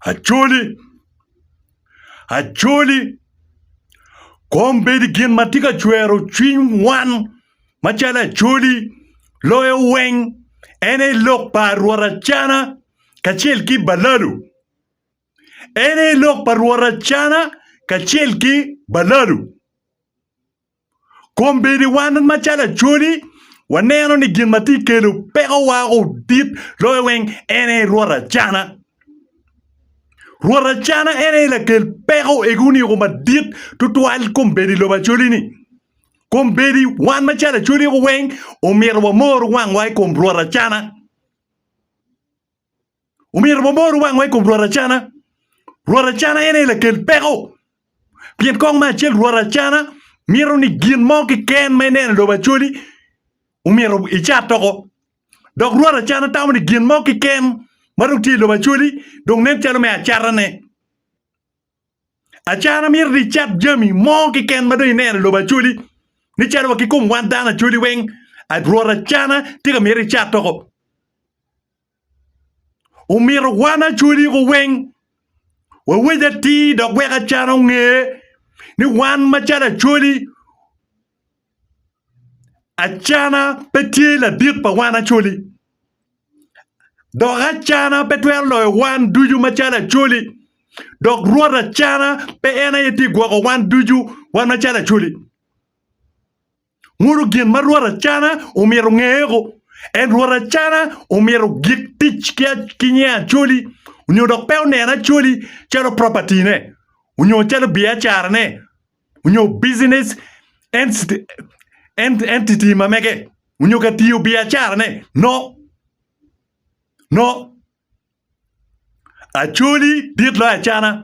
Acholi, Acholi, kom bed gin ma tye ka cwero cwiny wan macalo Acholi, loyo weng en aye lok pa Rwot Acana kacel ki Baladu, en aye lok pa Rwot Acana kacel ki Baladu. Kong bedi wan macalo Acholi, waneno ni gin ma tye ka kelo pekowa odit loyo weng en aye Rwot Acana. Rwot Acana en aye lakel peko ego oniko madit tutwal kong bedi i lobo Acholi-ni. Kong bedi wan macalo Acholi weng omyero wamor wangwa i kom Rwot Acana. Omyero wabor wangwa i kom rwot acana. Rwot acana en aye lakel peko. Pien kong me acel rwot acana mito ni gin mo keken ma ineno i lobo acoli omyero icat doko. Dok rwot acana tamo ni gin mo keken ma dong tye i lobo acoli dong nen calo me acatane. Acana mito ni icat jami mo keken ma dong ineno i lobo acoli ni calo wa ki kom wan dano acoli weng rwot acana tye ka miti icat doko. Omyero wan acwaligo weng wawec atir dok wek acan onge ni wan macalo acwali, acana pe tye ladit pa wan acwali dok acana pe twero loyo wan ducu macalo acwali dok Rwot acana pe en aye tye ka gwoko wan ducu wan macalo acwali. Ngolo gin ma rwot acana omyero ngeko. En rwot acana omyero gik tic ki nge acoli onyo dok pe oneno acoli calo property ne onyo calo biacara ne onyo business entity ma mege onyo ka tiyo biacara ne no no acoli dit loyo acana.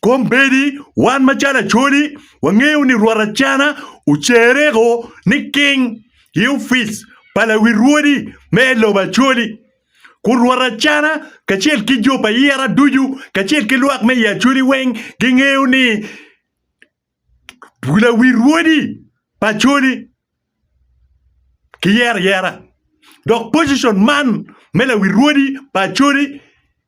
Kombeddi wan macalo Acholi wangeyo ni Rwot Acana ocerreko niking i opic pa lawi rwodi me i lobo Acholi, kun Rwot Acana kacel ki jo pa yera ducu kacel ki lwak me i Acholi weng gingeyo ni lawi rwodi pa Acholi kiyero ayera dok pocition man me lawi rwodi pa Acholi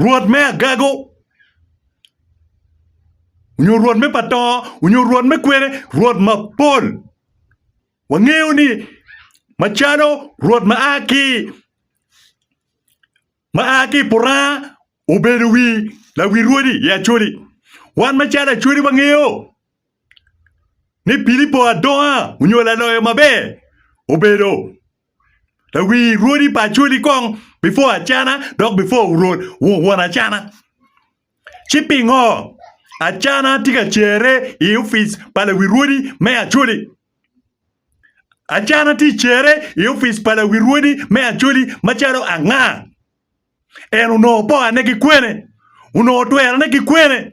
Rwot me agago onyo Rwot me pa to onyo Rwot me kwene, Rwot mapol. Wangeyo ni macalo Rwot ma a ki ma a ki i Puranga obedo wi lawi rwodi i Acoli, wan macalo Acoli wangeyo ni Pilipo adonga onyo laloyo maber obedo Lawir rwodi pa Acholi kong before Acana dok before won Acana. Ci pingo Acana tye ka cere i opic pa lawir rwodi me Acholi? Acana tye cere i opic pa lawir rwodi me Acholi macalo anga? En onongo pokane ki kwene? Onongo twerone ki kwene?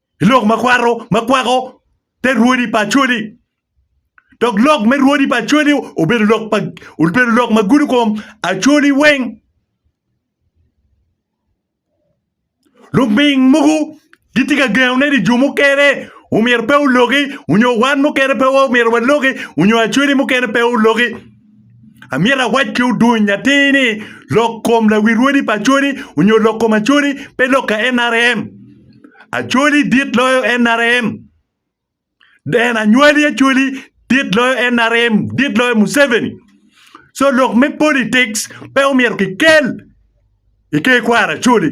i lok ma kwaro ma kwako te rwodi pa Acholi dok lok me rwodi pa Acholi obedo lok pa obedo lok ma gudo kom Acholi weng luming mogo gitye ka gengone ni jo mukene omyero pe oloki onyo wan mukene pe omyero waloki onyo Acholi mukene pe oloki. Amyero awac ki odony atir ni lok kom lawi rwodi pa Acholi onyo lok kom Acholi pe lok ka NRM. Acholi dit loyo NRM. Deen anywali Acholi dit loyo NRM, dit loyo Museveni. So lok me politics pe omyero ki kel i ter kwaro Acholi.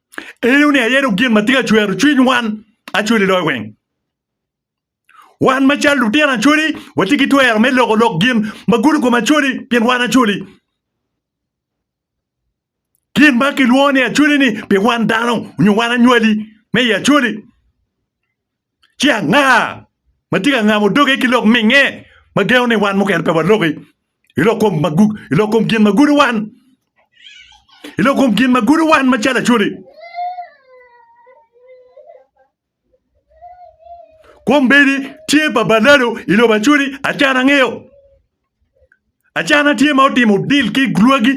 Ineno ni ayero gin ma tye ka cwero cwiny wan acwali loyo weng. Wan macalo lutino acwali watye ki twero me loko lok gin ma gudo kom acwali pien wan acwali. Gin ma kilwongo ni acwali-ni pi wan dano nyo wan anywali me i acwali. ci anga ma tye ka ngamo doge ki lok minge ma gengo ni wan mukene pe waloki i lok kom ma gu- i lok kom gin ma gudo wan i lok kom gin ma gudo wan macalo acoli kombeddi tye pa balalo i lobo acoli acan angeyo Acana tye ma otimo dil ki lwagi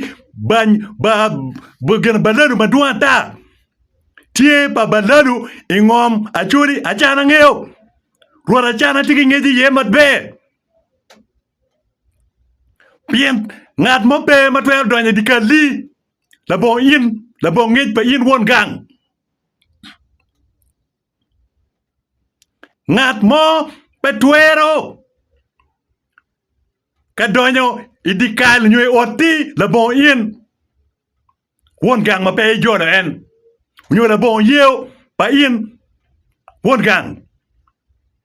balalu madwong ata. Tye pa balalu i ngom Acholi Acana ngeyo rwot Acana tye ki ngec iye maber pien ngat mo pe ma twero donyo i dye kalli labongo in labongo ngec pa in won gang. Ngat mo pe twero ka donyo i dye kal nyo i otti labongo in, won gang ma pe ijolo en, nyo labongo yeo pa in won gang.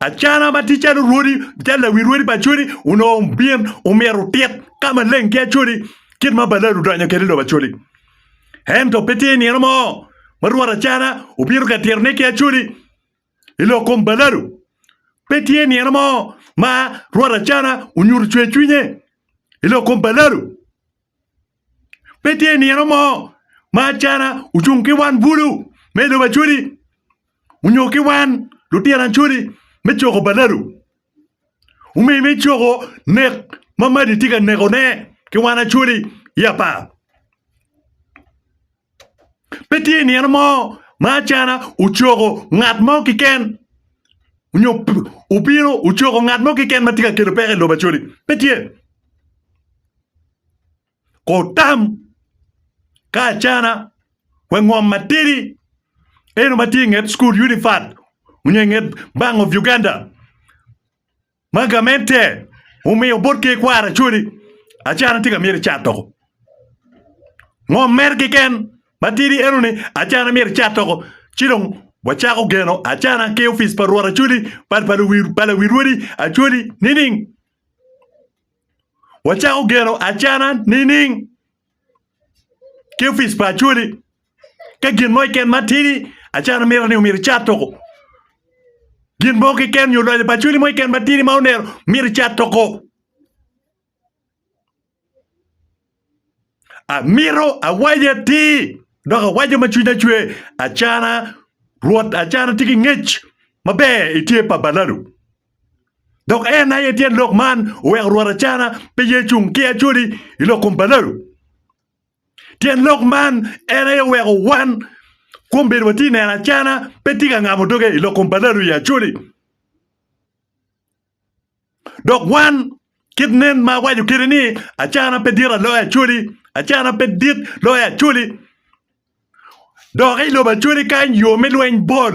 Acana ma tye calo rwodi calo lawi rwodi pa Acholi onongo obin omyero otit ka maleng ki Acholi kit ma Balali odonyo kwede i lobo Acholi ento pe tye i nino mo ma rwot Acana obino ka titone ki Acholi i lok kom Balali pe tye i nino mo ma rwot Acana onyuto cwercwinye i lok kom Balali. Pe tye nino mo ma acana ocung ki wan bulu me lobo Acholi onyo ki wan lutino Acholi me coko balalu. Omyero me coko nek ma Madi tye ka neko ne ki wan Acholi i apar. Pe tye i nino mo ma acana ocoko ngat mo keken nyo obino ocoko ngat mo keken ma tye ka kelo peko i lobo Acholi. Pe tye. Kono otam ka acana wa i ngom matidi eno ma tye i nget cukul Unifat onyo i nget Bank of Uganda. Ma gamente omiyo bot ki ikwaro acodi, acana tye ka myero icat doko. Ngom mere keken matidi eno ni acana myero icat doko ci dong wacako geno acana ki opic pa rwot acodi pa pa luwi pa lawi rwodi acodi nining? Wacako geno acana nining? ki opic pa acholi ka gin mo keken ma tidi acalo miti ni omyero icat toko gin mo keken nyo loyo pa acholi mo keken matidi ma onero miti icat toko amito awaco atir dok awaco ma cwinya cwer acana rwot acana tye ki ngec maber itye pa baladu Dok en aye tyen lok man oweko rwot Acana pe ye cung ki Acoli i lok kom balalo. Tyen lok man en aye oweko wan kwom bedo watye neno Acana pe tye ka ngamo doge i lok kom balalo i Acoli. Dok wan kit nen ma awaco kede ni Acana pe dit aloyo Acoli, Acana pe dit loyo Acoli. Dok i lobo Acoli kany yo me lweny bol.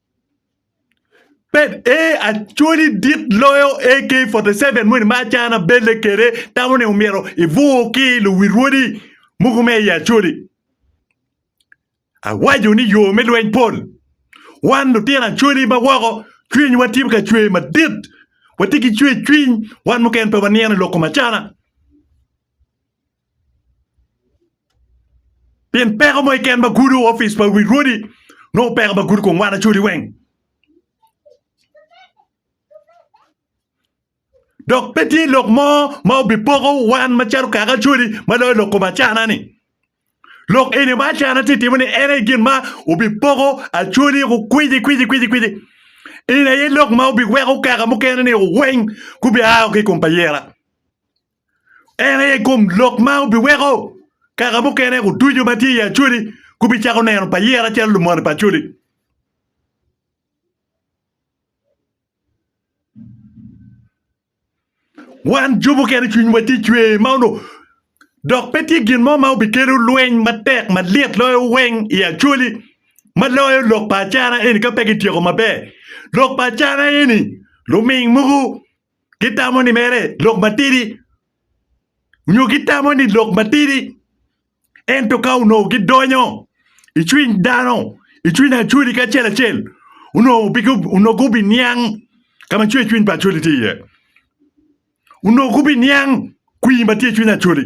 Bed ee Acholi dit loyo AK-47 moni ma Achana belle kwede. Tamo ni omyero ibur ki i luwil wodi mogo me i Acholi. Awaco ni yo me lweny pol. Wan lutino Acholi ma woko cwinywa tye ka cwer madit. Watye ki cwercwiny. Wan mukene pe waniano i lok kom Achana. Pien peko mo keken ma gudo opic pa wi rwodi nongo peko ma gudo kong wana codi weng. Dok pe tye lok mo ma obipoko wan macalo kaka acodi ma loyo lok kom acana-ni. Lok eni ma acana tye ka timo-ni en aye gin ma obipoko acodi woko kwici kwici kwici kwici. Eni aye lok ma obiweko kaka mukene-ni weng gubia ki i kom payira. En aye kom lok ma obiweko kaka mukene oducu ma tye i Acholi gubicako neno Payera calo lumony pa Acholi. Wan jo mukene cwinywa tye cwe ma onongo dok pe tye gin mo ma obikelo lweny matek malyet loyo weng i Acholi ma loyo lok pa acana eni ka pe kityeko maber. Lok pa acana eni luming mogo gitamo ni mere lok matidi nyo gitamo ni lok matidi ento ka onongo gidonyo i cwiny dano i cwiny Acholi kacel acel onongo gubiniang ka ma cwercwiny pa Acholi tye iye onongo gubiniang kwir ma tye i cwiny Acholi.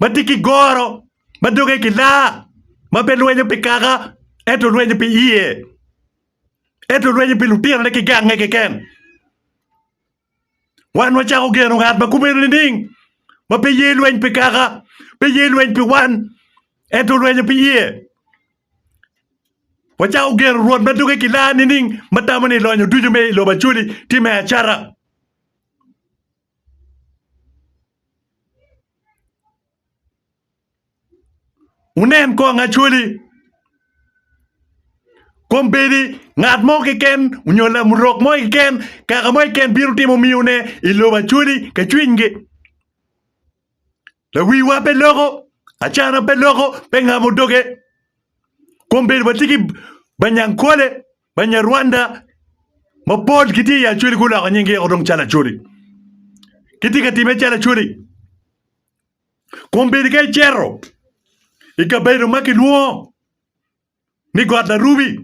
ma tye ki goro ma doge gilaa, ma pe lwenyo pi kaka ento lwenyo pi iye, ento lwenyo pi lutinone ki gangnge keken. Wan wacako geno ngat ma kumeno nining? Ma pe ye lweny pi kaka, pe ye lweny pi wan, ento lwenyo pi iye. Wacako geno Rwot ma doge gilaa nining, ma tamo ni lonyo ducu me i lobo Acoli tye me acata. Wunen kong Acholi, kombeddi ngat mo keken onyo lamurok mo keken, kaka mo keken bino timo miyo ne i lobo Acholi ka cwiny gi. Lawiwa pe loko, acana pe loko, pe ngamo doge. Kombeddi watye ki banyankole Banyarwanda mapol gitye i Acholi guloko nying giyeko dong calo Acholi. Gitye ka time calo Acholi. Kun bedi ka icero i kabedo ma kilwongo ni got Larubi,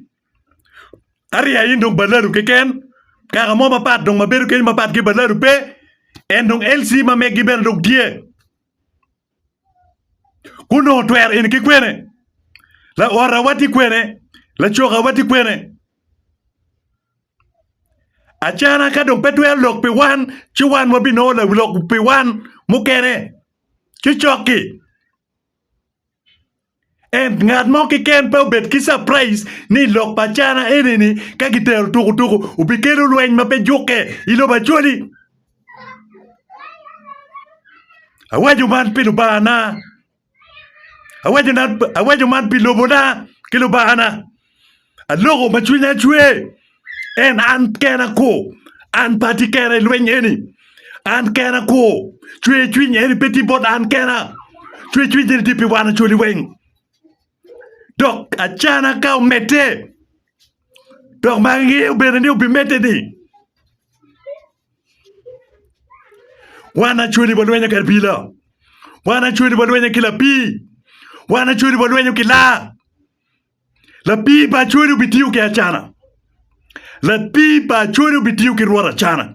ariya in dong Balalu keken, kaka mo mapat dong ma bedo kenyo mapat ki Balalu pe, en dong LC ma meggi bene dong tye. Kun dong otwero en ki kwene? Laorawa tye kwene? Lacokawa tye kwene? Acana ka dong pe twero lok pi wan, ci wan wabinongo lok pi wan mukene ki cokki. And ngat mo keken pe obed ki surprise ni i lok pa China eni ni ka gitero tuku tuku obikelo lweny ma pe jukke i lobo Acholi. Awaco man pi Lubanga na, awaco man pi lobona ki Lubanga na. Aloko ma cwinya cwer, en an kena kwo, an pe atye kena i lweny eni. An kena kwo, cwercwiny eni pe tye bot an kena, cwercwiny eni tye pi wan oculi weng. Dok acana ka omedde, dok ma angeyo bene ni obimedde-ni, wan acweli walwenyo ki abila, wan acweli walwenyo ki lapii, wan acweli walwenyo ki laa. Lapii pa Acholi obitiyo ki Acana. Lapii pa Acholi obitiyo ki Rwot Acana.